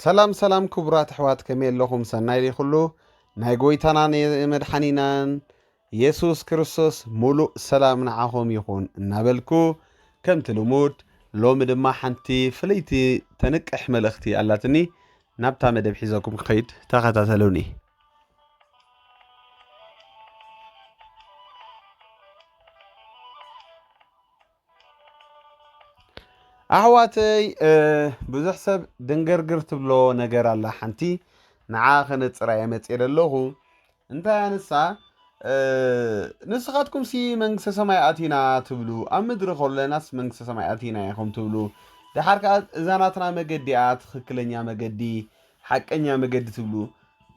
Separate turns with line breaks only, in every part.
ሰላም ሰላም ክቡራት ኣሕዋት ከመይ ኣለኹም ሰናይ ደይ ኩሉ ናይ ጎይታናን መድሓኒናን የሱስ ክርስቶስ ሙሉእ ሰላም ንዓኹም ይኹን እናበልኩ ከምቲ ልሙድ ሎሚ ድማ ሓንቲ ፍልይቲ ተንቅሕ መልእኽቲ ኣላትኒ ናብታ መደብ ሒዘኩም ክኸይድ ተኸታተሉኒ ኣሕዋተይ ብዙሕ ሰብ ድንግርግር ትብሎ ነገር ኣላ ሓንቲ ንዓ ከነፅራ እየ መፅኤ ዘለኹ እንታይ ኣንሳ ንስኻትኩም ሲ መንግስተ ሰማይ ኣቲና ትብሉ ኣብ ምድሪ ከለናስ መንግስተ ሰማይ ኣቲና ኢኹም ትብሉ ድሓር ከዓ እዛ ናትና መገዲ እያ ትኽክለኛ መገዲ ሓቀኛ መገዲ ትብሉ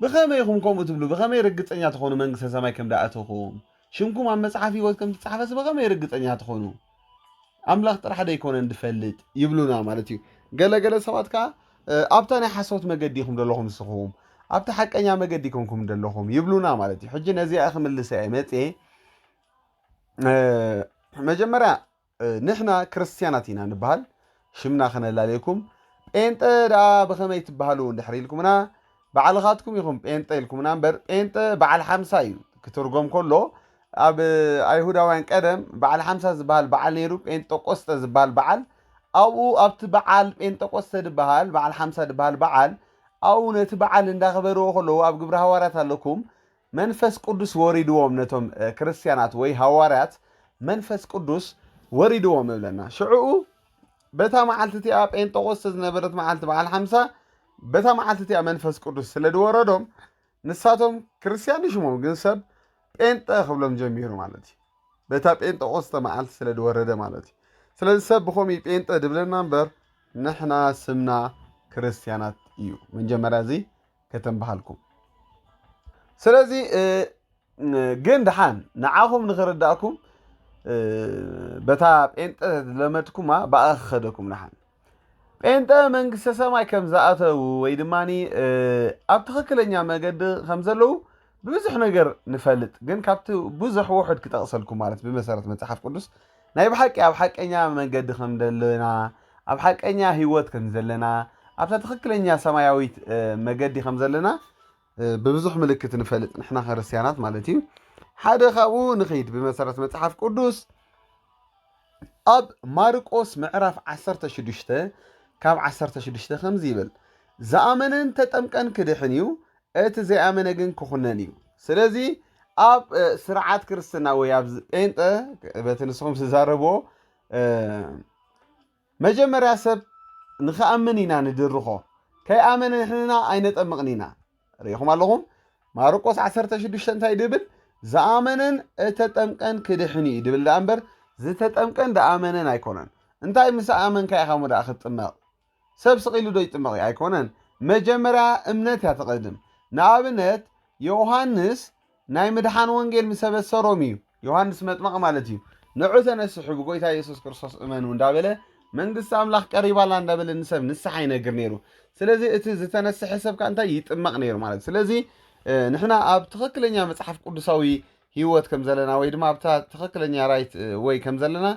ብኸመይ ኢኹም ከምኡ ትብሉ ብኸመይ ርግፀኛ ትኾኑ መንግስተ ሰማይ ከም ደኣተኹም ሽምኩም ኣብ መጽሓፍ ህይወት ከም እትጻሕፈስ ብኸመይ ርግጸኛ ትኾኑ? ኣምላኽ ጥራሕ ደይኮነን ድፈልጥ ይብሉና ማለት እዩ። ገለ ገለ ሰባት ከኣ ኣብታ ናይ ሓሶት መገዲ ኢኹም ደለኹም ንስኹም ኣብቲ ሓቀኛ መገዲ ኮንኩም ደለኹም ይብሉና ማለት እዩ ሕጂ ነዚኣ ክምልሰ እየ መፅኤ መጀመርያ ንሕና ክርስትያናት ኢና ንበሃል ሽምና ከነላልየኩም ጴንጠ ደኣ ብኸመይ ትበሃሉ እንድሕር ኢልኩምና ባዕልኻትኩም ኢኹም ጴንጠ ኢልኩምና እምበር ጴንጠ በዓል ሓምሳ እዩ ክትርጎም ከሎ ኣብ ኣይሁዳውያን ቀደም በዓል ሓምሳ ዝበሃል በዓል ነይሩ ጴንጠቆስጠ ዝበሃል በዓል ኣብኡ ኣብቲ በዓል ጴንጠቆስተ ድበሃል በዓል ሓምሳ ድበሃል በዓል ኣብኡ ነቲ በዓል እንዳኽበርዎ ከለዉ ኣብ ግብረ ሃዋርያት ኣለኩም መንፈስ ቅዱስ ወሪድዎም ነቶም ክርስትያናት ወይ ሃዋርያት መንፈስ ቅዱስ ወሪድዎም እብለና ሽዕኡ በታ መዓልቲ እቲኣ ጴንጠቆስተ ዝነበረት መዓልቲ በዓል ሓምሳ በታ መዓልቲ እቲኣ መንፈስ ቅዱስ ስለ ዝወረዶም ንሳቶም ክርስትያን ይሽሞም ግን ሰብ ጴንጠ ክብሎም ጀሚሩ ማለት እዩ በታ ጴንጠቆስተ መዓልቲ ስለ ዝወረደ ማለት እዩ ስለዚ ሰብ ብከምኡ ጴንጠ ድብለና እምበር ንሕና ስምና ክርስትያናት እዩ መጀመርያ እዚ ከተም በሃልኩም ስለዚ ግን ድሓን ንዓኹም ንኽርዳእኩም በታ ጴንጠ ዝለመድኩማ ብኣ ክኸደኩም ድሓን ጴንጠ መንግስተ ሰማይ ከም ዝኣተዉ ወይ ድማ ኣብ ትኽክለኛ መገዲ ከም ዘለዉ ብብዙሕ ነገር ንፈልጥ ግን ካብቲ ብዙሕ ውሑድ ክጠቕሰልኩም ማለት ብመሰረት መጽሓፍ ቅዱስ ናይ ብሓቂ ኣብ ሓቀኛ መንገዲ ከም ዘለና ኣብ ሓቀኛ ህይወት ከም ዘለና ኣብታ ትኽክለኛ ሰማያዊት መገዲ ከም ዘለና ብብዙሕ ምልክት ንፈልጥ ንሕና ክርስትያናት ማለት እዩ ሓደ ካብኡ ንኸይድ ብመሰረት መጽሓፍ ቅዱስ ኣብ ማርቆስ ምዕራፍ 16 ካብ 16 ከምዚ ይብል ዝኣመነን ተጠምቀን ክድሕን እዩ እቲ ዘይኣመነ ግን ክኹነን እዩ። ስለዚ ኣብ ስርዓት ክርስትና ወይ ኣብ ጴንጠ በቲ ንስኹም ዝዛረብዎ መጀመርያ ሰብ ንክኣምን ኢና ንድርኾ ከይኣመነ ንሕንና ኣይነጠምቕን ኢና ርኢኹም ኣለኹም ማርቆስ 16 እንታይ ድብል ዝኣመነን እተጠምቀን ክድሕን እዩ ድብል ደኣ እምበር ዝተጠምቀን ደኣመነን ኣይኮነን እንታይ ምስ ኣመንካ ኢኻ ሞ ደኣ ክትጥመቕ ሰብ ስቅ ኢሉ ዶ ይጥመቅ እዩ ኣይኮነን መጀመርያ እምነት እያ ትቅድም ንኣብነት የውሃንስ ናይ ምድሓን ወንጌል ምስ ኣበሰሮም እዩ ዮሃንስ መጥመቅ ማለት እዩ ንዑ ተነስሑ ብጎይታ የሱስ ክርስቶስ እመኑ እንዳበለ መንግስቲ ኣምላኽ ቀሪባላ እንዳበለ ንሰብ ንስሓ ይነግር ነይሩ ስለዚ እቲ ዝተነስሐ ሰብ ከ እንታይ ይጥመቅ ነይሩ ማለት ስለዚ ንሕና ኣብ ትክክለኛ መጽሓፍ ቅዱሳዊ ሂወት ከም ዘለና ወይ ድማ ኣብታ ትክክለኛ ራይት ወይ ከም ዘለና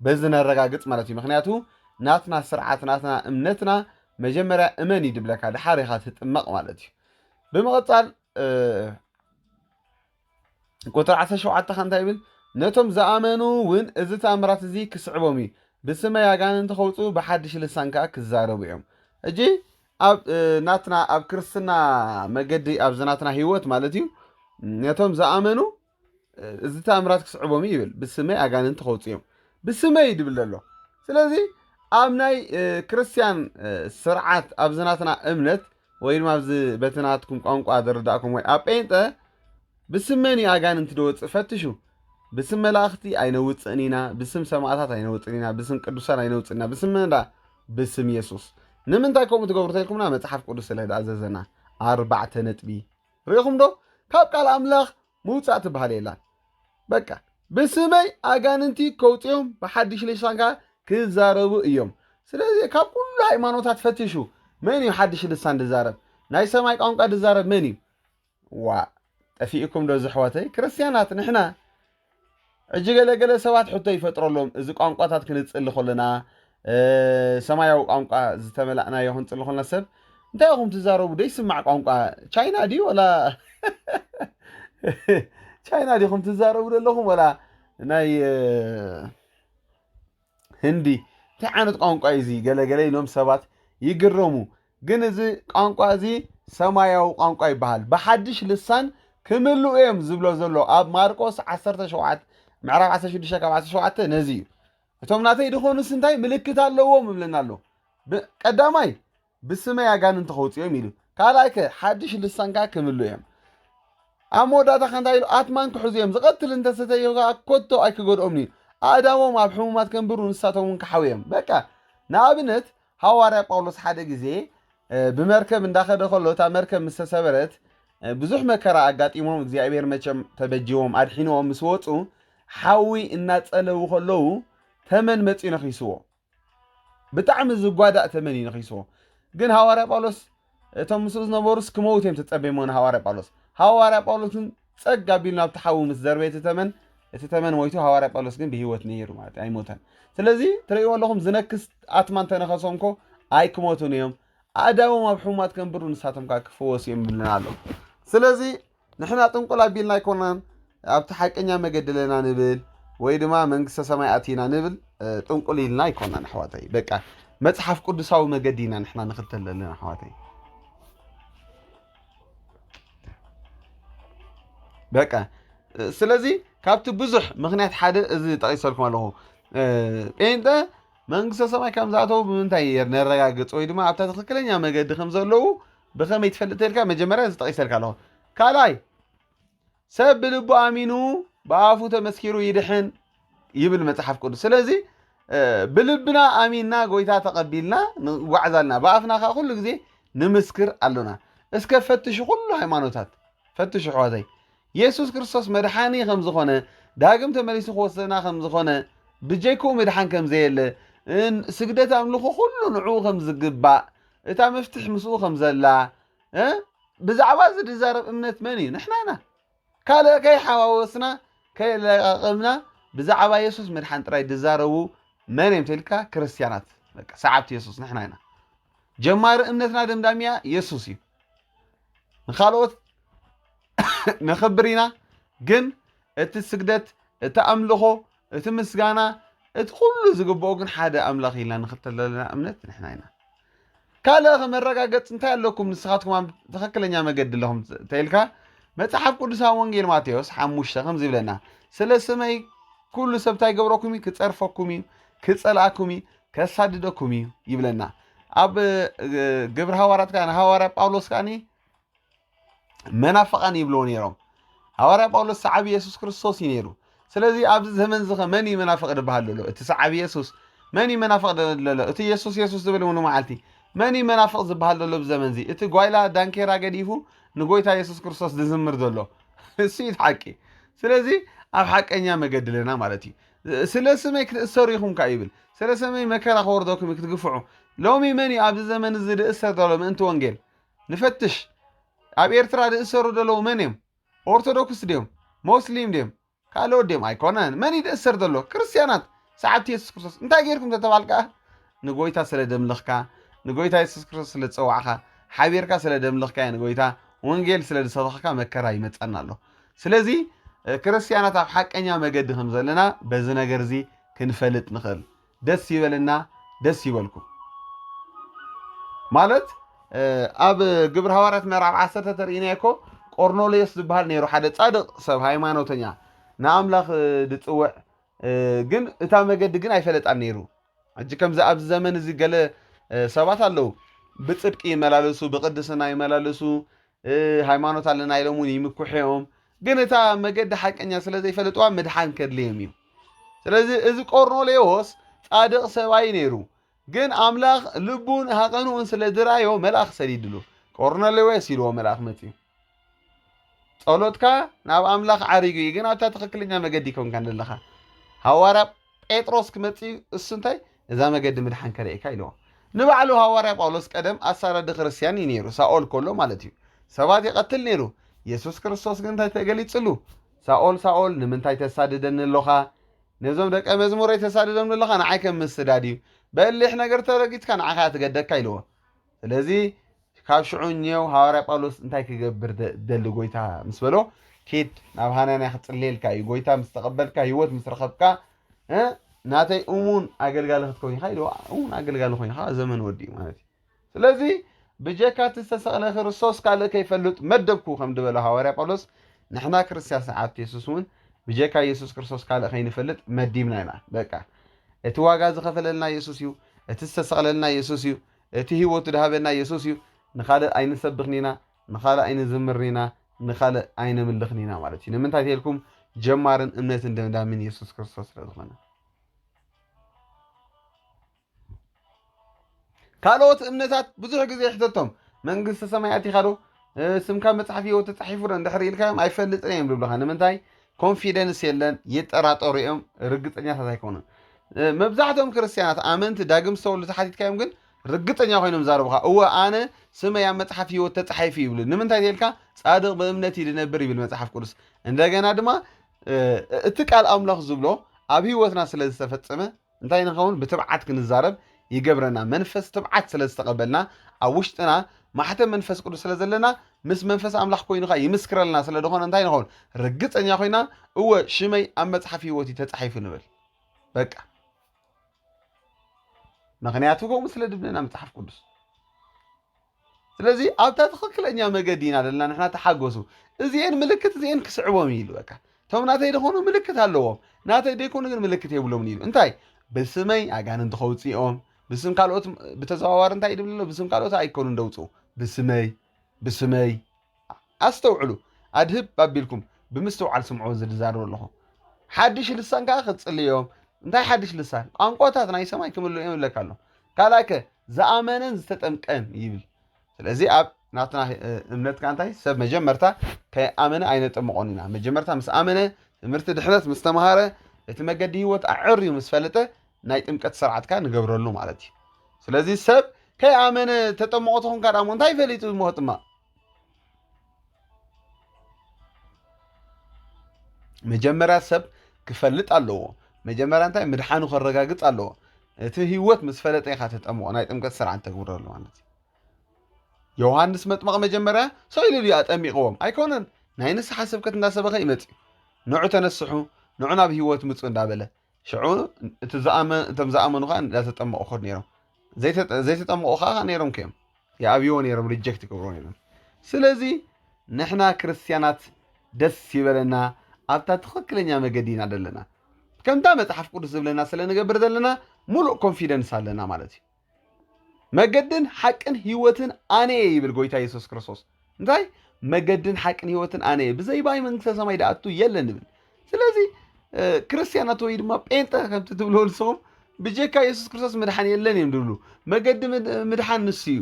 በዚ ነረጋግጽ ማለት እዩ ምክንያቱ ናትና ስርዓት ናትና እምነትና መጀመርያ እመን እዩ ድብለካ ድሓር ኢኻ ትጥመቕ ማለት እዩ ብምቕጻል ቁጥሪ 17 ከ እንታይ ይብል ነቶም ዝኣመኑ እውን እዚ ተኣምራት እዚ ክስዕቦም እዩ ብስመይ ኣጋንንቲ ከውፁ ብሓድሽ ልሳን ከዓ ክዛረቡ እዮም እጂ ኣብ ናትና ኣብ ክርስትና መገዲ ኣብዚ ናትና ህይወት ማለት እዩ ነቶም ዝኣመኑ እዚ ተኣምራት ክስዕቦም እዩ ይብል ብስመይ ኣጋንንቲ ከውፅ እዮም ብስመይ እዩ ድብል ዘሎ ስለዚ ኣብ ናይ ክርስትያን ስርዓት ኣብዚ ናትና እምነት ወይ ድማ ኣብዚ በቲ ናትኩም ቋንቋ ዝርዳእኩም ወይ ኣብ ጴንጠ ብስመን እዩ ኣጋንንቲ ደወፅእ ፈትሹ ብስም መላእኽቲ ኣይነውፅእን ኢና ብስም ሰማእታት ኣይነውፅን ኢና ብስም ቅዱሳን ኣይነውፅን ኢና ብስም መን ብስም የሱስ ንምንታይ ከምኡ ትገብሩ ተልኩምና መፅሓፍ ቅዱስ ስለ ዝኣዘዘና ኣርባዕተ ነጥቢ ርኢኹም ዶ ካብ ቃል ኣምላኽ ምውጻእ ትበሃል የላን በቃ ብስመይ ኣጋንንቲ ከውጽኦም ብሓድሽ ልሳን ከኣ ክዛረቡ እዮም ስለዚ ካብ ኩሉ ሃይማኖታት ፈትሹ መን እዩ ሓድሽ ልሳን ድዛረብ ናይ ሰማይ ቋንቋ ድዛረብ መን እዩ ዋ ጠፊእኩም ዶ ዘሕዋተይ ክርስትያናት ንሕና ሕጂ ገለ ገለ ሰባት ሕቶ ይፈጥረሎም፣ እዚ ቋንቋታት ክንጽሊ ከሎና፣ ሰማያዊ ቋንቋ ዝተመላእናዮ ክንጽሊ ከሎና ሰብ እንታይ ኢኹም ትዛረቡ ደይስማዕ ቋንቋ ቻይና ድዩ ወላ ቻይና ዲኹም ትዛረቡ ዘለኹም ወላ ናይ ህንዲ እንታይ ዓይነት ቋንቋ እዩ እዚ ገለ ገለ ኢሎም ሰባት ይግረሙ። ግን እዚ ቋንቋ እዚ ሰማያዊ ቋንቋ ይበሃል። ብሓድሽ ልሳን ክምልኡ እዮም ዝብሎ ዘሎ ኣብ ማርቆስ 17 ምዕራፍ 16 ካብ 17 ነዚ እዩ። እቶም ናተይ ድኾኑስ እንታይ ምልክት ኣለዎም እብለና ኣሎ። ቀዳማይ ብስመይ ኣጋንንቲ ከውፅኦም ኢሉ ካልኣይ ከ ሓድሽ ልሳን ከዓ ክምሉ እዮም ኣብ መወዳእታ ከ እንታይ ኢሉ ኣትማን ክሕዙ እዮም ዝቐትል እንተሰተዮ ከዓ ኮቶ ኣይክገድኦም እዩ ኣእዳዎም ኣብ ሕሙማት ከንብሩ ንሳቶም እውን ክሓው እዮም በቃ ንኣብነት ሃዋርያ ጳውሎስ ሓደ ግዜ ብመርከብ እንዳኸደ ከሎ እታ መርከብ ምስ ተሰበረት ብዙሕ መከራ ኣጋጢሞም እግዚኣብሔር መቸም ተበጅዎም ኣድሒንዎም ምስ ወፁ ሓዊ እናፀለዉ ከለዉ ተመን መፅኡ ነኺስዎ ብጣዕሚ ዝጓዳእ ተመን እዩ ነኺስዎ ግን ሃዋርያ ጳውሎስ እቶም ምስኡ ዝነበሩስ ክመውት እዮም ተጸበይሞ ንሃዋርያ ጳውሎስ ሃዋርያ ጳውሎስ ግን ጸግ ኣቢሉ ናብቲ ሓዊ ምስ ዘርበየ እቲ ተመን እቲ ተመን ሞይቱ ሃዋርያ ጳውሎስ ግን ብሂወት ነይሩ ማለት ኣይሞተን ስለዚ ትርእይዎ ኣለኹም ዝነክስ ኣትማ እንተነኸሶም ኮ ኣይክሞቱን እዮም ኣእዳዎም ኣብ ሕሙማት ከንብሩ ንሳቶም ከዓ ክፈወሱ እዮም ይብለና ኣሎ ስለዚ ንሕና ጥንቁል ኣቢልና ኣይኮናን ኣብቲ ሓቀኛ መገዲ ኣለና ንብል ወይ ድማ መንግስተ ሰማይ ኣቲና ንብል ጥንቁል ኢልና ኣይኮናን ኣሕዋተይ በቃ መጽሓፍ ቅዱሳዊ መገዲ ኢና ንሕና ንኽተል ዘለና ኣሕዋተይ በቃ ስለዚ ካብቲ ብዙሕ ምክንያት ሓደ እዚ ጠቂሰልኩም ኣለኹ ጴንጠ መንግስተ ሰማይ ከም ዝኣተው ብምንታይ ነረጋግፅ ወይ ድማ ኣብታ ትክክለኛ መገዲ ከም ዘለዉ ብኸመይ ትፈልጥ ተልካ መጀመርያ እዚ ጠቒሰልካ ኣለኹ ካልኣይ ሰብ ብልቡ ኣሚኑ ብኣፉ ተመስኪሩ ይድሕን ይብል መጽሓፍ ቅዱስ ስለዚ ብልብና ኣሚንና ጎይታ ተቐቢልና ንጓዕዝ ኣለና ብኣፍና ከዓ ኩሉ ግዜ ንምስክር ኣሎና እስከ ፈትሹ ኩሉ ሃይማኖታት ፈትሹ ኣሕዋተይ የሱስ ክርስቶስ መድሓኒ ከም ዝኾነ ዳግም ተመሊሱ ክወስደና ከም ዝኾነ ብጀይክኡ ምድሓን ከም ዘየለ ስግደት ኣምልኹ ኩሉ ንዕኡ ከም ዝግባእ እታ መፍትሕ ምስኡ ከም ዘላ እ ብዛዕባ እዚ ዝዛረብ እምነት መን እዩ? ንሕና ኢና። ካልእ ከይሓዋወስና ከየለቃቀምና ብዛዕባ የሱስ ምድሓን ጥራይ ዝዛረቡ መን እዮም ተልካ ክርስትያናት በቃ ሰዓብቲ የሱስ ንሕና ኢና። ጀማሪ እምነትና ደምዳሚያ የሱስ እዩ። ንካልኦት ነኽብር ኢና ግን እቲ ስግደት እቲ ኣምልኾ እቲ ምስጋና እቲ ኩሉ ዝግብኦ ግን ሓደ ኣምላኽ ኢልና ንኽተል ዘለና እምነት ንሕና ኢና። ካልእ ከ መረጋገጺ እንታይ ኣለኩም ንስኻትኩም ኣብ ትኽክለኛ መገዲ ኣለኹም ተኢልካ መጽሓፍ ቅዱስ ኣብ ወንጌል ማቴዎስ ሓሙሽተ ከምዚ ይብለና ስለ ስመይ ኩሉ ሰብ እንታይ ገብረኩም እዩ ክጸርፈኩም እዩ ክጸልኣኩም እዩ ከሳድደኩም እዩ ይብለና ኣብ ግብሪ ሃዋርያት ከኣ ሃዋርያ ጳውሎስ ከኣኒ መናፍቓን ይብልዎ ነይሮም። ሃዋርያ ጳውሎስ ሰዓቢ የሱስ ክርስቶስ እዩ ነይሩ። ስለዚ ኣብዚ ዘመን እዚ መን እዩ መናፍቕ ዝበሃል ዘሎ? እቲ ሰዓቢ የሱስ። መን እዩ መናፍቕ ዘሎ? እቲ የሱስ የሱስ ዝብል እውን መዓልቲ። መን እዩ መናፍቕ ዝበሃል ዘሎ ኣብዚ ዘመን እዚ? እቲ ጓይላ ዳንኬራ ገዲፉ ንጎይታ የሱስ ክርስቶስ ዝዝምር ዘሎ እሱ እዩ ሓቂ። ስለዚ ኣብ ሓቀኛ መገዲ ኣለና ማለት እዩ። ስለ ስመይ ክትእሰሩ ኢኹም ከ ይብል። ስለ ስመይ መከራ ክወርደኩም ክትግፍዑ። ሎሚ መን እዩ ኣብዚ ዘመን እዚ ዝእሰር ዘሎ ምእንቲ ወንጌል? ንፈትሽ ኣብ ኤርትራ ድእሰሩ ደለዉ መን እዮም ኦርቶዶክስ ድዮም ሞስሊም ድዮም ካልኦት ድዮም ኣይኮነን መን እዩ ድእሰር ዘሎ ክርስትያናት ሰዓብቲ የሱስ ክርስቶስ እንታይ ጌርኩም ተተባል ከኣ ንጎይታ ስለ ደምልኽካ ንጎይታ የሱስ ክርስቶስ ስለ ዝጸዋዕኻ ሓቢርካ ስለ ደምልኽካዮ ንጎይታ ወንጌል ስለ ዝሰበኽካ መከራ ይመጸና ኣሎ ስለዚ ክርስትያናት ኣብ ሓቀኛ መገዲ ከም ዘለና በዚ ነገር እዚ ክንፈልጥ ንኽእል ደስ ይበልና ደስ ይበልኩም ማለት ኣብ ግብሪ ሃዋርያት ምዕራፍ ዓሰርተ ተርእይና እኮ ቆርኔሌዎስ ዝበሃል ነይሩ ሓደ ጻድቕ ሰብ ሃይማኖተኛ ንኣምላኽ ዝጽውዕ ግን እታ መገዲ ግን ኣይፈለጣን ነይሩ ሕጂ ከምዚ ኣብዚ ዘመን እዚ ገለ ሰባት ኣለዉ ብጽድቂ ይመላለሱ ብቅድስና ይመላለሱ ሃይማኖት ኣለና ኢሎም እውን ይምኩሕዮም ግን እታ መገዲ ሓቀኛ ስለ ዘይፈለጥዋ ምድሓን ከድልዮም እዩ ስለዚ እዚ ቆርኔሌዎስ ጻድቕ ሰብኣይ ነይሩ ግን ኣምላኽ ልቡን ሃቐንኡን ስለ ዝረኣዮ መልኣኽ ሰዲድሉ ቆርኔሌዎስ ኢልዎ መልኣኽ መፅዩ ጸሎትካ ናብ ኣምላኽ ዓሪጉ እዩ ግን ኣብታ ትኽክለኛ መገዲ ይኮንካ ዘለኻ ሃዋርያ ጴጥሮስ ክመጽእ እዩ፣ እሱ እንታይ እዛ መገዲ ምድሓን ከርእየካ ኢልዎ። ንባዕሉ ሃዋርያ ጳውሎስ ቀደም ኣሳዳዲ ክርስትያን እዩ ነይሩ፣ ሳኦል ከሎ ማለት እዩ። ሰባት ይቐትል ነይሩ። የሱስ ክርስቶስ ግን እንታይ ተገሊጽሉ? ሳኦል ሳኦል ንምንታይ ተሳድደኒ ኣሎኻ? ነዞም ደቀ መዝሙረይ ተሳድዶም ኣለኻ፣ ንዓይከ ምስዳድ እዩ። በሊሕ ነገር ተረጊጽካ ንዓኻ እያ ትገደካ ኢልዎ። ስለዚ ካብ ሽዑ እኔው ሃዋርያ ጳውሎስ እንታይ ክገብር ደሊ ጎይታ ምስ በሎ ኪድ ናብ ሃናንያ ክጽልየልካ እዩ ጎይታ ምስ ተቐበልካ ህይወት ምስ ረኸብካ ናተይ እሙን ኣገልጋሊ ክትከውን ኢኻ ኢልዎ እውን ኣገልጋሊ ኮይኑ ከዓ ዘመን ወዲኡ ማለት እዩ ስለዚ ብጀካ እቲ ዝተሰቕለ ክርስቶስ ካልእ ከይፈልጥ መደብኩ ከም ዝበለ ሃዋርያ ጳውሎስ ንሕና ክርስትያን ሰዓብቲ የሱስ እውን ብጀካ የሱስ ክርስቶስ ካልእ ከይንፈልጥ መዲብና ኢና በቃ እቲ ዋጋ ዝኸፈለልና የሱስ እዩ እቲ ዝተሰቕለልና የሱስ እዩ እቲ ህይወቱ ድሃበና የሱስ እዩ ንኻልእ ኣይንሰብኽን ኢና ንኻልእ ኣይንዝምርን ኢና ንኻልእ ኣይነምልኽን ኢና ማለት እዩ ንምንታይ ተልኩም ጀማርን እምነትን ደምዳምን የሱስ ክርስቶስ ስለ ዝኾነ ካልኦት እምነታት ብዙሕ ግዜ ይሕተቶም መንግስቲ ሰማያት ኢኻ ዶ ስምካ መፅሓፍ ህይወት ተፃሒፉ ዶ እንድሕር ኢልካዮም ኣይፈልጥን እዮም ዝብልኻ ንምንታይ ኮንፊደንስ የለን፣ ይጠራጠሩ እዮም፣ ርግጸኛታት ኣይኮኑን። መብዛሕትኦም ክርስትያናት ኣመንቲ ዳግም ዝተወልዱ ተሓቲትካዮም ግን ርግጸኛ ኮይኖም ዛረቡኻ እወ ኣነ ስመይ ኣብ መጽሓፍ ህይወት ተጻሒፉ ይብሉ ንምንታይ ተልካ ጻድቕ ብእምነት እዩ ድነብር ይብል መጽሓፍ ቅዱስ እንደገና ድማ እቲ ቃል ኣምላኽ ዝብሎ ኣብ ህይወትና ስለ ዝተፈጸመ እንታይ ንኸውን? ብትብዓት ክንዛረብ ይገብረና። መንፈስ ትብዓት ስለ ዝተቐበልና፣ ኣብ ውሽጥና ማሕተም መንፈስ ቅዱስ ስለ ዘለና፣ ምስ መንፈስ ኣምላኽ ኮይኑ ኸኣ ይምስክረልና ስለ ዝኾነ እንታይ ንኸውን? ርግጸኛ ኮይና እወ ሽመይ ኣብ መጽሓፍ ህይወት እዩ ተጻሒፉ ንብል። በቃ ምክንያቱ ከምኡ ስለ ድብለና መጽሓፍ ቅዱስ ስለዚ ኣብታ ትኽክለኛ መገዲ ኢና ዘለና ንሕና ተሓጎሱ እዚኤን ምልክት እዚኤን ክስዕቦም እዩ ኢሉ በቃ እቶም ናተይ ደኾኑ ምልክት ኣለዎም ናተይ ደይኮኑ ግን ምልክት የብሎምን ኢሉ እንታይ ብስመይ ኣጋንንቲ ከውፅኦም ብስም ካልኦት ብተዘዋዋሪ እንታይ ድብልሎ ብስም ካልኦት ኣይኮኑን ደውፅኡ ብስመይ ብስመይ ኣስተውዕሉ፣ ኣድህብ ኣቢልኩም ብምስትውዓል ስምዑ እዚ ዝዛረቦ ኣለኹ። ሓድሽ ልሳን ከኣ ክትጽሊ እዮም። እንታይ ሓድሽ ልሳን? ቋንቋታት ናይ ሰማይ ክምልኡ እዮም ይብለካ ኣሎ። ካልኣይከ ዝኣመነን ዝተጠምቀን ይብል። ስለዚ ኣብ ናትና እምነት ከኣ እንታይ ሰብ መጀመርታ ከይኣመነ ኣይነጠምቖን ኢና። መጀመርታ ምስ ኣመነ ትምህርቲ ድሕነት ምስ ተምሃረ እቲ መገዲ ህይወት ኣዐርዩ ምስ ፈለጠ ናይ ጥምቀት ስርዓት ከኣ ንገብረሉ ማለት እዩ። ስለዚ ሰብ ከይኣመነ ተጠምቖ ተኾንካ ደኣ እሞ እንታይ ፈሊጡ እሞ ክጥመቕ? መጀመርያ ሰብ ክፈልጥ ኣለዎ። መጀመርያ እንታይ ምድሓኑ ከረጋግፅ ኣለዎ። እቲ ህይወት ምስ ፈለጠ ኢኻ ተጠምቆ ናይ ጥምቀት ስርዓት ተግብረሉ ማለት እዩ። ዮሃንስ መጥመቕ መጀመርያ ሰው ኢሉ ድዩ ኣጠሚቕዎም? ኣይኮነን። ናይ ንስሓ ስብከት እንዳሰበኸ ይመፅ እዩ። ንዑ ተነስሑ፣ ንዑ ናብ ህይወት ምፁ እንዳበለ ሽዑ እቲ ዝኣመን እቶም ዝኣመኑ ከዓ እንዳተጠመቑ ከዱ ነይሮም ዘይተጠመቑ ከዓ ነይሮም ከዮም ይኣብይዎ ነይሮም ሪጀክት ይገብርዎ ነይሮም ስለዚ ንሕና ክርስትያናት ደስ ይበለና ኣብታ ትኽክለኛ መገዲ ኢና ዘለና ከምታ መፅሓፍ ቅዱስ ዝብለና ስለ ንገብር ዘለና ሙሉእ ኮንፊደንስ ኣለና ማለት እዩ መገድን ሓቅን ህይወትን ኣነ እየ ይብል ጎይታ የሱስ ክርስቶስ እንታይ መገድን ሓቅን ህይወትን ኣነ እየ ብዘይ ባይ መንግስተ ሰማይ ዳኣቱ የለን ይብል ስለዚ ክርስትያናት ወይ ድማ ጴንጠ ከምቲ ትብሎ ንስኹም ብጀካ የሱስ ክርስቶስ ምድሓን የለን እዮም ዝብሉ መገዲ ምድሓን ንሱ እዩ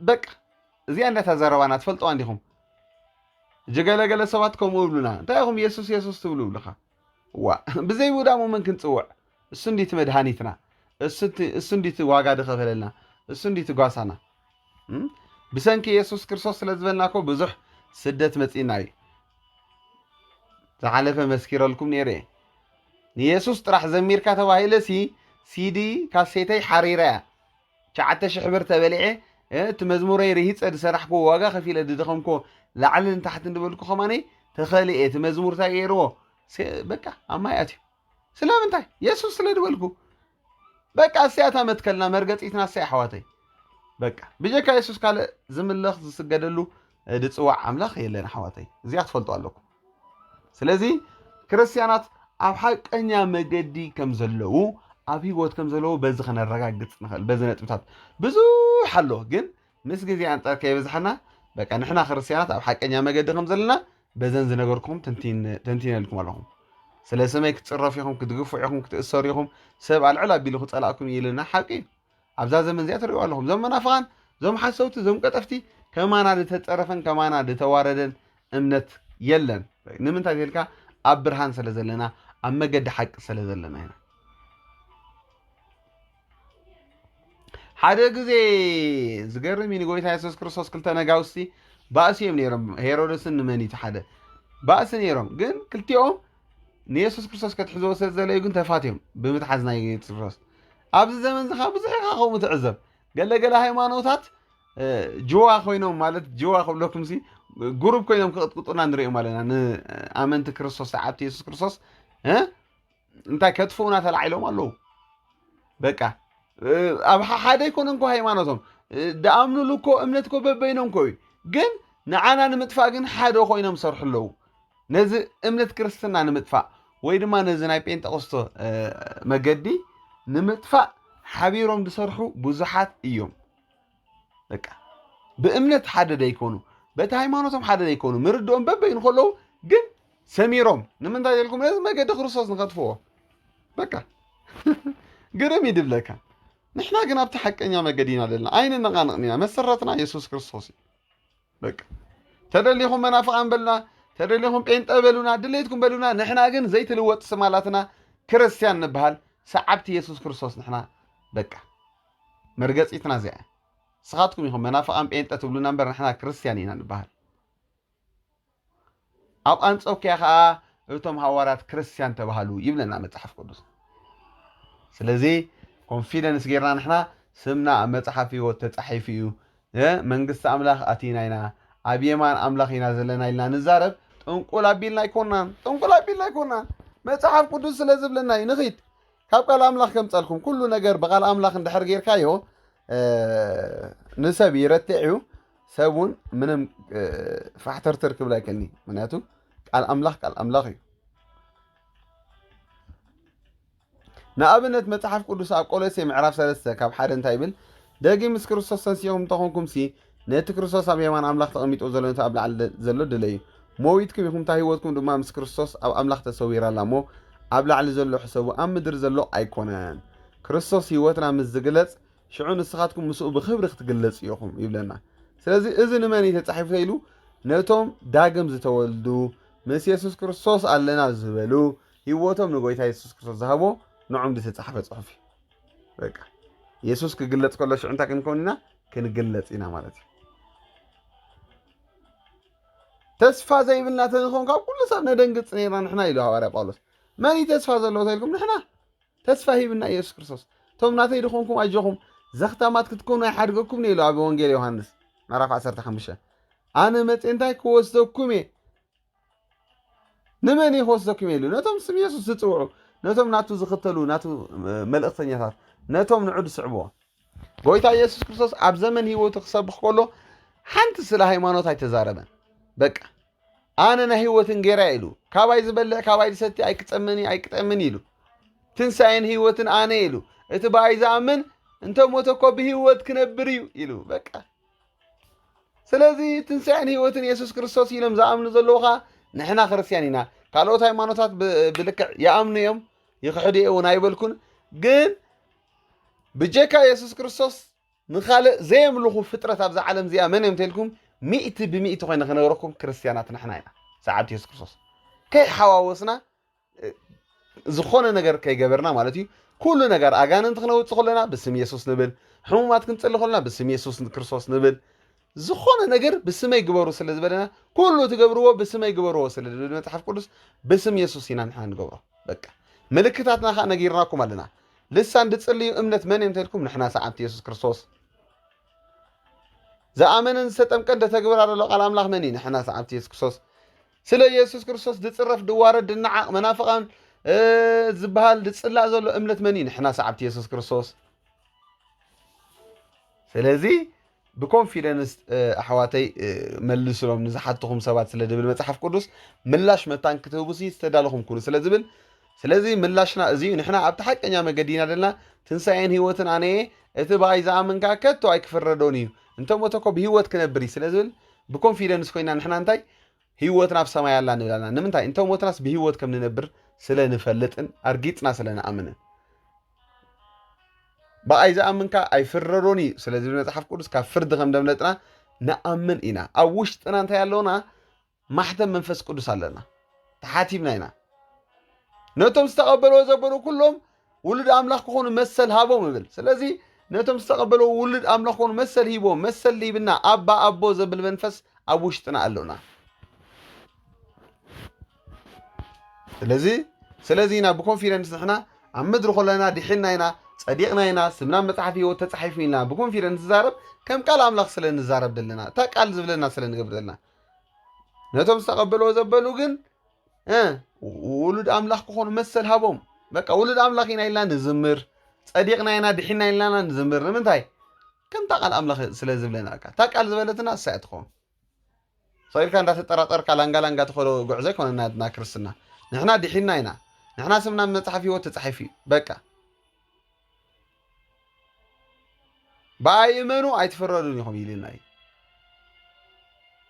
በቃ እዚኣ እንዳተዘረባና ትፈልጠዋ እንዲኹም ጀገለገለ ሰባት ከምኡ ይብሉና እንታይ ኢኹም የሱስ የሱስ ትብሉ ይብልኻ ዋእ ብዘይ ውዳሙ መን ክንጽውዕ እሱ እንድዩ እቲ መድሃኒትና እሱ እንድዩ እቲ ዋጋ ዝኸፈለልና እሱ እንድዩ እቲ ጓሳና ብሰንኪ የሱስ ክርስቶስ ስለ ዝበልና እኮ ብዙሕ ስደት መጺእና እዩ ዝሓለፈ መስኪረልኩም ነይረ እየ ንየሱስ ጥራሕ ዘሚርካ ተባሂለሲ ሲዲ ካሴተይ ሓሪረ እያ ትሽዓተ ሽሕ ብር ተበሊዐ እቲ መዝሙረይ ርሂፀ ዝሰራሕክዎ ዋጋ ከፊለ ዝደኸምክዎ ላዕሊ ንታሕቲ ዝበልኩ ከማነይ ተኸሊኤ እቲ መዝሙር እንታይ ገይርዎ በቃ ኣብ ማይ ኣትዩ ስለምንታይ የሱስ ስለ ዝበልኩ በቃ እሰያታ መትከልና መርገፂትና እሰይ ኣሕዋተይ በቃ ብጀካ የሱስ ካልእ ዝምለኽ ዝስገደሉ ዝፅዋዕ ኣምላኽ የለን ኣሕዋተይ እዚኣ ክትፈልጡ ኣለኩም ስለዚ ክርስትያናት ኣብ ሓቀኛ መገዲ ከም ዘለዉ ኣብ ህይወት ከም ዘለዉ በዚ ከነረጋግፅ ንኽእል በዚ ነጥብታት ብዙሕ ኣሎ ግን ምስ ግዜ ኣንፃር ከይበዝሓና በቃ ንሕና ክርስትያናት ኣብ ሓቀኛ መገዲ ከም ዘለና በዘን ዝነገርኩም ተንቲነልኩም ኣለኹም ስለ ስመይ ክትፅረፉ ኢኹም ክትግፍዑ ኢኹም ክትእሰሩ ኢኹም ሰብ ኣልዕል ኣቢሉ ክፀላእኩም እዩ ኢልና ሓቂ እዩ ኣብዛ ዘመን እዚኣ ትርእይዋ ኣለኹም እዞም መናፍቓን እዞም ሓሰውቲ እዞም ቀጠፍቲ ከማና ዝተጸረፈን ከማና ዝተዋረደን እምነት የለን ንምንታይ ተልካ ኣብ ብርሃን ስለ ዘለና ኣብ መገዲ ሓቂ ስለ ዘለና ኢና ሓደ ግዜ ዝገርም እዩ ንጎይታ የሱስ ክርስቶስ ክልተ ነጋውስቲ ባእሲ እዮም ነይሮም ሄሮደስን ንመን እዩ ሓደ ባእሲ ነይሮም ግን ክልቲኦም ንየሱስ ክርስቶስ ከትሕዝዎ ስለ ዝደለዩ ግን ተፋትዮም ብምትሓዝ ናይ ጢሮስ ኣብዚ ዘመን እዚ ካብ ብዙሕ ኢኻ ከምኡ ትዕዘብ ገለ ገለ ሃይማኖታት ጅዋ ኮይኖም ማለት ጅዋ ክብለኩም ሲ ጉሩብ ኮይኖም ክቕጥቅጡና ንሪኦም ኣለና ንኣመንቲ ክርስቶስ ሰዓብቲ የሱስ ክርስቶስ እንታይ ከጥፍኡና ተላዒሎም ኣለዉ በቃ ኣብ ሓደ ይኮነ እንኮ ሃይማኖቶም ደኣምኑሉ እኮ እምነት እኮ በበይኖም እኮ እዩ ግን ንዓና ንምጥፋእ ግን ሓደ ኮይኖም ሰርሑ ኣለዉ ነዚ እምነት ክርስትና ንምጥፋእ ወይ ድማ ነዚ ናይ ጴንጠቆስቶ መገዲ ንምጥፋእ ሓቢሮም ዝሰርሑ ብዙሓት እዮም። በቃ ብእምነት ሓደ ዘይኮኑ በቲ ሃይማኖቶም ሓደ ዘይኮኑ ምርድኦም በበይኑ ከለዉ ግን ሰሚሮም ንምንታይ ዘልኩም ነዚ መገዲ ክርስቶስ ንኸጥፍዎ በቃ ግርም ይድብለካ። ንሕና ግን ኣብቲ ሓቀኛ መገዲ ኢና ዘለና ኣይንነቓንቕን ኢና መሰረትና የሱስ ክርስቶስ እዩ። በቃ ተደሊኹም መናፍቃን በሉና፣ ተደሊኹም ጴንጠ በሉና፣ ድሌትኩም በሉና። ንሕና ግን ዘይትልወጥ ስም ኣላትና ክርስቲያን ንበሃል ሰዓብቲ የሱስ ክርስቶስ ንሕና በቃ መርገጺትና እዚኣ እያ። ንስኻትኩም ኢኹም መናፍቃን ጴንጠ ትብሉና እምበር ንሕና ክርስቲያን ኢና ንበሃል። ኣብ ኣንጾኪያ ከኣ እቶም ሃዋርያት ክርስትያን ተባሃሉ ይብለና መጽሓፍ ቅዱስ ስለዚ ኮንፊደንስ ጌርና ንሕና ስምና ኣብ መጽሓፍ ህይወት ተጻሒፉ እዩ መንግስቲ ኣምላኽ ኣቲና ኢና ኣብ የማን ኣምላኽ ኢና ዘለና ኢልና ንዛረብ ጥንቁል ኣቢልና ኣይኮናን ጥንቁል ኣቢልና ኣይኮናን መጽሓፍ ቅዱስ ስለ ዝብለና እዩ ንኺድ ካብ ቃል ኣምላኽ ከምጸልኩም ኩሉ ነገር ብቃል ኣምላኽ እንድሕር ጌርካዮ ንሰብ ይረትዕ እዩ ሰብ እውን ምንም ፋሕተርተር ክብል ኣይከኒ ምክንያቱ ቃል ኣምላኽ ቃል ኣምላኽ እዩ ንኣብነት መጽሓፍ ቅዱስ ኣብ ቆሎሴ ምዕራፍ ሰለስተ ካብ ሓደ እንታይ ይብል ደጊ ምስ ክርስቶስ ተንሲኹም እንተኾንኩም ሲ ነቲ ክርስቶስ ኣብ የማን ኣምላኽ ተቐሚጦ ዘሎ ነቲ ኣብ ላዕሊ ዘሎ ድለዩ መዊትኩም ኢኹም እታ ህይወትኩም ድማ ምስ ክርስቶስ ኣብ ኣምላኽ ተሰዊራ ኣላ እሞ ኣብ ላዕሊ ዘሎ ሕሰቡ ኣብ ምድሪ ዘሎ ኣይኮነን ክርስቶስ ህይወትና ምስ ዝግለጽ ሽዑ ንስኻትኩም ምስኡ ብኽብሪ ክትግለጹ ኢኹም ይብለና። ስለዚ እዚ ንመን እዩ ተጻሒፉ ተኢሉ? ነቶም ዳግም ዝተወልዱ ምስ የሱስ ክርስቶስ ኣለና ዝበሉ ህይወቶም ንጎይታ የሱስ ክርስቶስ ዝሃቦ ንዖም ዝተጻሕፈ ጽሑፍ እዩ በቃ የሱስ ክግለጽ ከሎ ሽዑ እንታይ ክንከውን ኢና ክንግለጽ ኢና ማለት እዩ ተስፋ ዘይብልና ተንኸውን ካብ ኩሉ ሰብ ነደንግጽ ነርና ንሕና ኢሉ ሃዋርያ ጳውሎስ መን እዩ ተስፋ ዘለዎ ተልኩም ንሕና ተስፋ ሂብና ኢየሱስ ክርስቶስ እቶም ናተይ ድኾንኩም ኣጆኹም ዘኽታማት ክትኮኑ ኣይሓድገኩም እየ ኢሉ ኣብ ወንጌል ዮሃንስ ምዕራፍ ዓሰርተ ሓሙሽተ ኣነ መጽኤ እንታይ ክወስደኩም እየ ንመን እየ ክወስደኩም እየ ኢሉ ነቶም ስም ኢየሱስ ዝጽውዑ ነቶም ናቱ ዝኽተሉ ናቱ መልእኽተኛታት ነቶም ንዑ ዝስዕብዎ ጎይታ ኢየሱስ ክርስቶስ ኣብ ዘመን ህይወቱ ክሰብኽ ከሎ ሓንቲ ስለ ሃይማኖት ኣይተዛረበን በቃ ኣነ ናይ ህይወት እንጌራ እዩ ኢሉ ካባይ ዝበልዕ ካባይ ዝሰቲ ኣይክጸምን እዩ ኣይክጠምን እዩ ኢሉ ትንሣኤን ህይወትን ኣነ እዩ ኢሉ እቲ ብኣይ ዝኣምን እንተ ሞተ እኮ ብህይወት ክነብር እዩ ኢሉ በቃ ስለዚ ትንሣኤን ህይወትን የሱስ ክርስቶስ ኢሎም ዝኣምኑ ዘለዉ ኸዓ ንሕና ክርስትያን ኢና ካልኦት ሃይማኖታት ብ- ብልክዕ ይኣምኑ እዮም ይኽሕዱ እውን ኣይበልኩን ግን ብጀካ የሱስ ክርስቶስ ንኻልእ ዘየምልኹ ፍጥረት ኣብዛ ዓለም እዚኣ መን እዮም እንተልኩም ሚእቲ ብሚእቲ ኮይነ ክነግረኩም ክርስትያናት ንሕና ኢና ሰዓብቲ የሱስ ክርስቶስ ከይሓዋወስና ዝኾነ ነገር ከይገበርና ማለት እዩ ኩሉ ነገር ኣጋንንቲ ክነውፅእ ከለና ብስም የሱስ ንብል ሕሙማት ክንፅሊ ከለና ብስም የሱስ ክርስቶስ ንብል ዝኾነ ነገር ብስመይ ግበሩ ስለ ዝበለና ኩሉ ትገብርዎ ብስመይ ግበርዎ ስለ ዝብል መጽሓፍ ቅዱስ ብስም የሱስ ኢና ንሕና ንገብሮ በቃ ምልክታትና ከዓ ነጊርናኩም ኣለና ልሳን ድጽልዩ እምነት መን እዮም ተልኩም ንሕና ሰዓብቲ የሱስ ክርስቶስ ዝኣመነን ዝተጠምቀን ደተግብር ኣለሎ ቃል ኣምላኽ መን እዩ ንሕና ሰዓብቲ የሱስ ክርስቶስ ስለ የሱስ ክርስቶስ ድጽረፍ ድዋረድ ድናዓቕ መናፍቓን ዝበሃል ድጽላእ ዘሎ እምነት መን እዩ ንሕና ሰዓብቲ የሱስ ክርስቶስ ስለዚ ብኮንፊደንስ ኣሕዋተይ መልስሎም ንዝሓትኹም ሰባት ስለ ዝብል መፅሓፍ ቅዱስ ምላሽ መታን ክትህቡ ሲ ዝተዳለኹም ኩኑ ስለ ዝብል ስለዚ ምላሽና እዚ እዩ ንሕና ኣብቲ ሓቀኛ መገዲ ኢና ዘለና ትንሳኤን ህይወትን ኣነ እየ እቲ ብኣይ ዝኣምን ከዓ ከቶ ኣይክፍረዶን እዩ እንተሞተ ኮ ብሂወት ክነብር እዩ ስለ ዝብል ብኮንፊደንስ ኮይና ንሕና እንታይ ህይወትና ኣብ ሰማይ ኣላ ንብል ኣለና ንምንታይ እንተሞትናስ ብሂወት ከም ንነብር ስለ ንፈልጥን ኣርጊፅና ስለ ንኣምንን ብኣይ ዝኣምን ከኣ ኣይፍረዶን እዩ ስለ ዝብል መጽሓፍ ቅዱስ ካብ ፍርዲ ከም ደምለጥና ንኣምን ኢና ኣብ ውሽጥና እንታይ ኣለና ማሕተም መንፈስ ቅዱስ ኣለና ተሓቲምና ኢና ነቶም ዝተቐበልዎ ዘበሉ ኩሎም ውሉድ ኣምላኽ ክኾኑ መሰል ሃቦም እብል ስለዚ ነቶም ዝተቐበልዎ ውሉድ ኣምላኽ ክኾኑ መሰል ሂቦም መሰል ሂብና ኣባ ኣቦ ዘብል መንፈስ ኣብ ውሽጥና ኣሎና ስለዚ ስለዚ ኢና ብኮንፊደንስ ንሕና ኣብ ምድሪ ኮለና ድሒና ኢና ጸዲቕና ኢና ስምና መጽሓፍ ህይወት ተጻሒፉ ኢልና ብኮንፊደንስ ንዛረብ ከም ቃል ኣምላኽ ስለ ንዛረብ ዘለና እታ ቃል ዝብለና ስለ ንገብር ዘለና ነቶም ዝተቐበልዎ ዘበሉ ግን ውሉድ ኣምላኽ ክኾኑ መሰል ሃቦም በቃ ውሉድ ኣምላኽ ኢና ኢልና ንዝምር ጸዲቕና ኢና ድሒና ኢልና ንዝምር ንምንታይ ከምታ ቃል ኣምላኽ ስለ ዝብለና እታ ቃል ዝበለትና እሳ እያ ትኸውን ስቕ ኢልካ እንዳተጠራጠርካ ላንጋ ላንጋ ትኸዶ ጉዕዞ ኣይኮነን ናትና ክርስትና ንሕና ዲሒንና ኢና ንሕና ስምና ብ መጽሓፍ ሂወት ተጻሒፉ እዩ በቃ ብኣይ እመኑ ኣይትፍረዱን ኢኹም ኢልና እዩ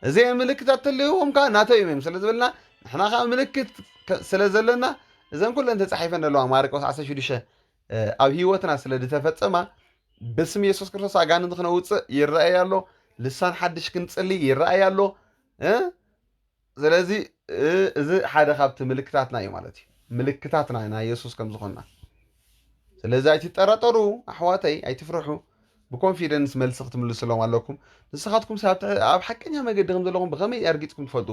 እዚ ምልክታት ተለይዎም ከዓ ናተይ እዮም ስለ ዝበልና ንሕና ከዓ ምልክት ስለ ዘለና እዘን ኩለን ተፃሒፈን ዘለዋ ማርቆስ 16 ኣብ ህይወትና ስለ ድተፈጸማ ብስም የሱስ ክርስቶስ ኣጋንንቲ ክነውፅእ ይረኣይ ኣሎ ልሳን ሓድሽ ክንጽሊ ይረኣይ ኣሎ ስለዚ እዚ ሓደ ካብቲ ምልክታትና እዩ ማለት እዩ ምልክታትና ናይ የሱስ ከም ዝኾና ስለዚ ኣይትጠራጠሩ ኣሕዋተይ ኣይትፍርሑ ብኮንፊደንስ መልሲ ክትምልስሎም ኣለኩም ንስኻትኩም ኣብ ሓቀኛ መገዲ ከም ዘለኹም ብኸመይ ኣርጊፅኩም ትፈልጡ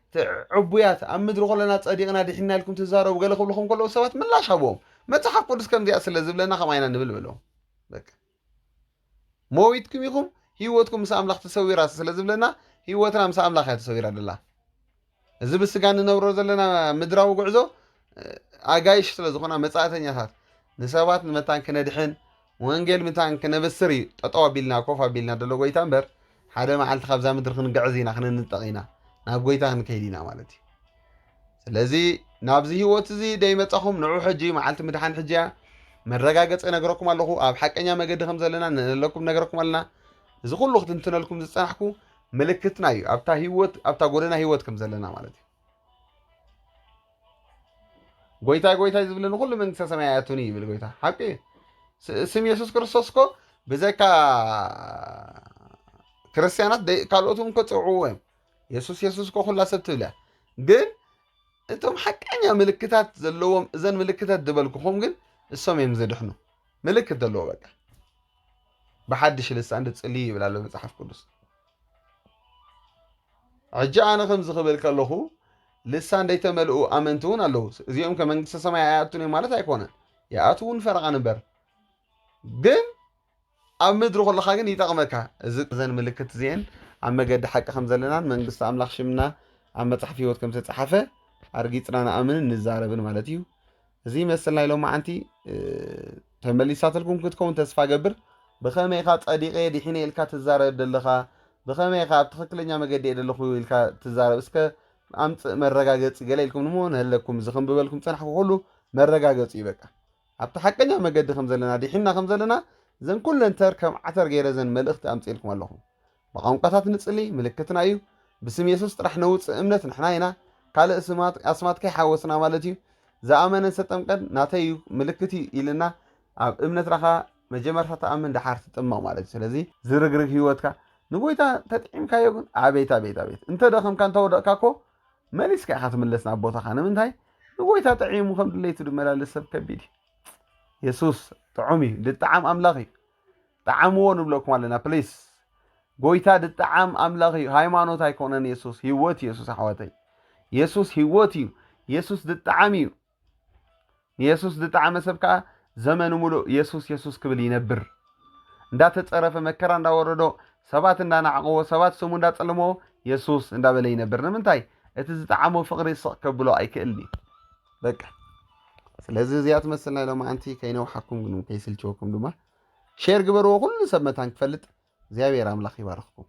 እቲ ዕቡያት ኣብ ምድሪ ኹለና ጸዲቕና ዲሒንና ኢልኩም ትዛረቡ ገለ ክብሉ ከም ከለዉ ሰባት ምላሽ ሃብዎም መጽሓፍ ቅዱስ ከምዚኣ ስለ ዝብለና ከምኣ ኢና ንብል በሎም በቃ ሞዊትኩም ኢኹም ህይወትኩም ምስ ኣምላኽ ተሰዊራ ስለ ዝብለና ህይወትና ምስ ኣምላኽ እያ ተሰዊራ ደላ እዚ ብስጋ እንነብሮ ዘለና ምድራዊ ጉዕዞ ኣጋይሽ ስለ ዝኾና መጻእተኛታት ንሰባት ንመታን ክነድሕን ወንጌል ምታን ክነብስር እዩ ጠጠው ኣቢልና ኮፍ ኣቢልና ደሎ ጎይታ እምበር ሓደ መዓልቲ ካብዛ ምድሪ ክንግዕዝ ኢና ክንንጠቕ ኢና ናብ ጎይታ ክንከይድ ኢና ማለት እዩ ስለዚ ናብዚ ህይወት እዚ ደይመጻኹም ንዑ ሕጂ መዓልቲ ምድሓን ሕጂ እያ መረጋገፂ ነገረኩም ኣለኹ ኣብ ሓቀኛ መገዲ ከም ዘለና ንእለኩም ነገረኩም ኣለና እዚ ኩሉ ክትንትነልኩም ዝፀናሕኩ ምልክትና እዩ ኣብታ ህይወት ኣብታ ጎደና ህይወት ከም ዘለና ማለት እዩ ጎይታይ ጎይታይ ዝብለ ንኩሉ መንግስተ ሰማይ ኣያቱኒ ይብል ጎይታ ሓቂ እዩ ስም የሱስ ክርስቶስ እኮ ብዘካ ክርስትያናት ካልኦት እውን ከፅውዕዎ እዮም የሱስ የሱስ እኮ ኩላ ሰብ ትብል እያ ግን እቶም ሓቀኛ ምልክታት ዘለዎም እዘን ምልክታት ዝበልኩኹም ግን እሶም እዮም ዝድሕኑ ምልክት ዘለዎ በቃ ብሓድሽ ልሳን ድፅልዩ ይብል ኣሎ መፅሓፍ ቅዱስ ሕጂ ኣነ ከምዚ ክብል ከለኹ ልሳን ዘይተመልኡ ኣመንቲ እውን ኣለዉ። እዚኦም ከመንግስተ ሰማይ ኣይኣቱን እዮም ማለት ኣይኮነን፣ ይኣትውን ፈረቓን እምበር ግን ኣብ ምድሪ ከለኻ ግን ይጠቕመካ። እዚ ዘን ምልክት እዚአን ኣብ መገዲ ሓቂ ከም ዘለናን መንግስቲ ኣምላኽ ሽምና ኣብ መጽሓፍ ህይወት ከም ዝተጻሓፈ ኣርጊጽና ንኣምንን ንዛረብን ማለት እዩ። እዚ መሰል ናይ ሎማዓንቲ ተመሊሳትልኩም ክትከውን ተስፋ ገብር። ብኸመይ ኢኻ ጸዲቐ ድሒነ ኢልካ ትዛረብ ደለኻ ብኸመይ ኢኻ ኣብ ትኽክለኛ መገዲ እየ ደለኹ ኢልካ ትዛረብ እስከ ኣምጽእ መረጋገጺ ገለ ኢልኩም ንሞ ንህለኩም እዚ ክንብበልኩም ጸናሕኩ ኩሉ መረጋገጺ እዩ በቃ ኣብቲ ሓቀኛ መገዲ ከም ዘለና ድሒና ከም ዘለና ዘን ኩለን ተር ከም ዓተር ገይረ ዘን መልእኽቲ ኣምጽኤልኩም ኣለኹ ብቛንቋታት ንጽሊ ምልክትና እዩ ብስም የሱስ ጥራሕ ነውጽእ እምነት ንሕና ኢና ካልእ ስማት ኣስማት ከይሓወስና ማለት እዩ ዝኣመነ ዝተጠምቀን ናተይ እዩ ምልክት እዩ ኢልና ኣብ እምነት ራኻ መጀመርታ ተኣምን ደሓር ትጥመቕ ማለት እዩ ስለዚ ዝርግርግ ህይወትካ ንጎይታ ተጥዒምካዮ ግን ኣቤት ኣቤት ኣቤት እንተ ደኸምካ እንተ ወደቕካ እኮ መሊስካ ኢኻ ትምለስ ናብ ቦታኻ ንምንታይ ንጎይታ ጥዒሙ ከም ድለይቱ ድመላለስ ሰብ ከቢድ እዩ የሱስ ጥዑም እዩ ድጣዓም ኣምላኽ እዩ ጠዓምዎ ንብለኩም ኣለና ፕሊስ። ጎይታ ድጠዓም ኣምላኽ እዩ ሃይማኖት ኣይኮነን የሱስ ህይወት እዩ የሱስ ኣሕዋተይ የሱስ ህይወት እዩ የሱስ ድጠዓም እዩ ንየሱስ ድጠዓመ ሰብ ከዓ ዘመኑ ሙሉእ የሱስ የሱስ ክብል ይነብር እንዳተፀረፈ መከራ እንዳወረዶ ሰባት እንዳናዕቅዎ ሰባት ስሙ እንዳፀለምዎ የሱስ እንዳበለ ይነብር ንምንታይ እቲ ዝጠዓሞ ፍቅሪ ስቕ ከብሎ ኣይክእልን እዩ በቃ ስለዚ እዚኣ ትመስል ናይ ሎማዓንቲ ከይነውሓኩም ግን ከይስልችወኩም ድማ ሼር ግበርዎ ኩሉ ሰብ መታን ክፈልጥ እግዚኣብሔር ኣምላክ ይባርኽኩም።